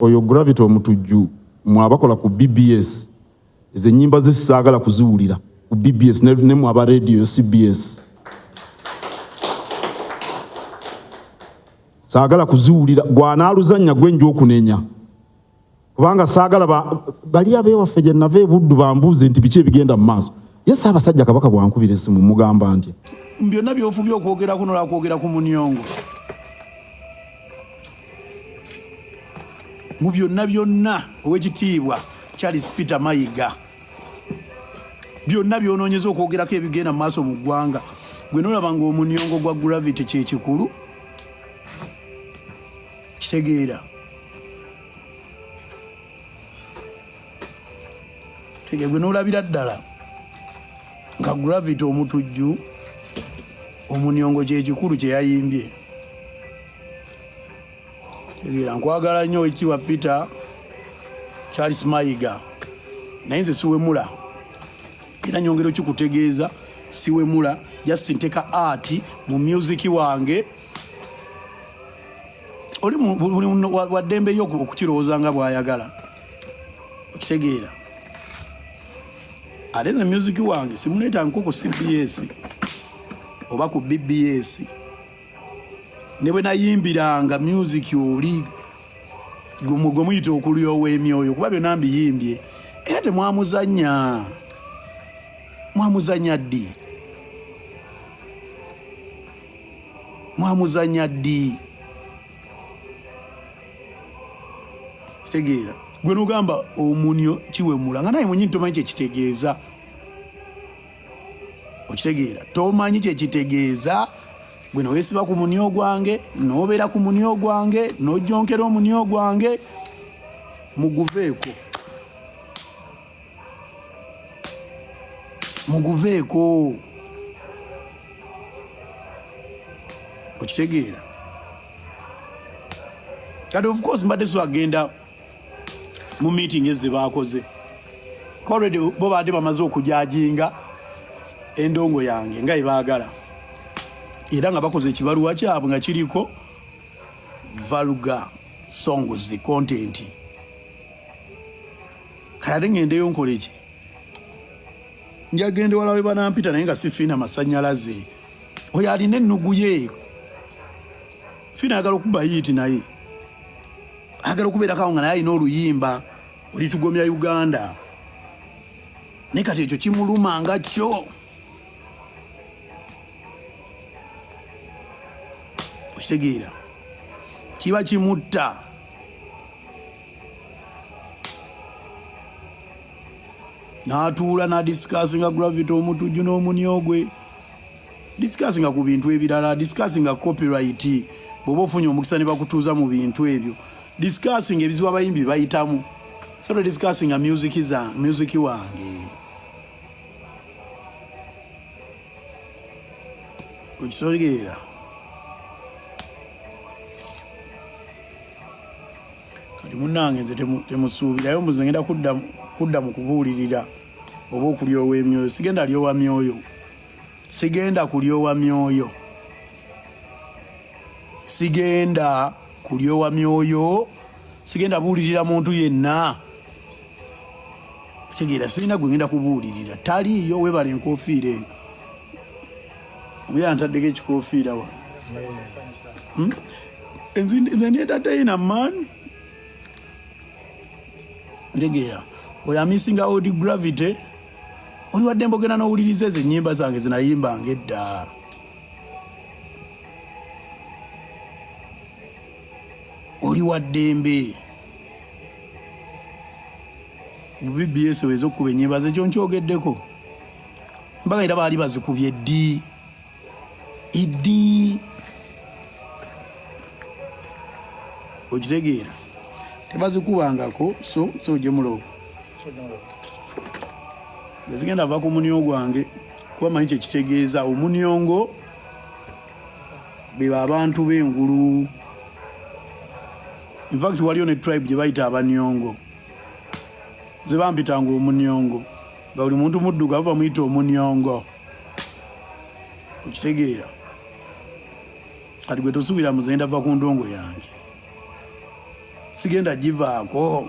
oyo gravity omutujju mwe abakola ku bbs ezo enyimba ze saagala kuziwulira ku bbs ne mwe aba radio cbs saagala kuziwulira gwanaaluzannya gwe nja okunenya kubanga saagala bali abewaffe gye nava ebuddu bambuuze nti biki ebigenda mu maaso ye Ssaabasajja Kabaka bwankubira essimu mugamba nti byonna byofubye okwogera kuno lwakwogera ku munyongo mu byonna byonna owekitiibwa Charles Peter Mayiga byonna byononyeza okwogerako ebigenda mu maaso mu ggwanga gwe nolaba nga omunyongo gwa gravity kyekikulu kitegeera tege gwe nolabira ddala nga gravity omutujju omunyongo kyekikulu kyeyayimbye tegeera nkwagala nnyo ekiwa peter charles mayiga naye nze siwemula era nyongero kikutegeeza siwemula just nteka art mu music wange oli waddembeyo okukirowooza nga bwayagala okitegeera ate nze music wange simuleeta nko ku cbs oba ku bbs ne bwe nayimbiranga music oli gwe muyita okulyowa emyoyo kuba byonna mbiyimbye era temwamuzanya mwamuzanya ddi mwamuzanya ddi kitegeera gwe nogamba omunyo kiwemula nga naye mwenyini tomanyi kyekitegeeza okitegeera tomanyi kyekitegeeza gwe newesiba ku munyo gwange nobeera ku munyo gwange nojonkera omunyo gwange muguveeko muguveeko okitegeera kati of course mbadde so agenda mu meeting ezze baakoze already bo baadde bamaze okujajinga endongo yange nga ebaagala era nga bakoze ekibaluwa kyabwe nga kiriko valuga songs content kalade ngendeyo nkoleki njagenda wala we banampita naye nga si fiina masanyalaze oyo alina ennugu ye fiina ayagala okuba yiiti naye agala okubeerakawo nga naye alina oluyimba olitugomya uganda naye kati ekyo kimuluma nga kyo okitegeera kiba kimutta n'atuula nadisikasinga gravity omutujju n'omuni ogwe disikasinga ku bintu ebirala disikasinga copyright bwoba ofunye omukisa ne bakutuuza mu bintu ebyo disikasinga ebizibu abayimbi bayitamu soto disikasinga music wange okitegeera kati munange nze temusuubirayo mbuze ngenda kudda mu kubuulirira oba okulyowa emyoyo sigenda lyowa myoyo sigenda kulyowa myoyo sigenda kulyowa myoyo sigenda buulirira muntu yenna kitegeera sirina gwe ngenda kubuulirira taliiyo webala enkofiira eyo omuyaa ntaddeko ekikofiira wa hmm? enzinetatayina man kitegeera oyo amisinga od gravity oli wadde mbogera n'owuliriza ezo ennyimba zange zinayimbanga edda oli wa ddembe bbs weza okukuba enyebaza ekyo nkyogeddeko mbaga era baali bazikubye ddi iddi okitegeera tebazikubangako so so ojemulowo ezigenda ava ku munio gwange kuba manyi kyekitegeeza omuniongo beba abantu b'engulu infact waliyo ne tribe gye bayita abanyongo nze bampitanga omunyongo nga buli muntu muddugavu bamuyita omunyongo okitegeera kati gwe tosuubira muzenda va ku ndongo yange sigenda givaako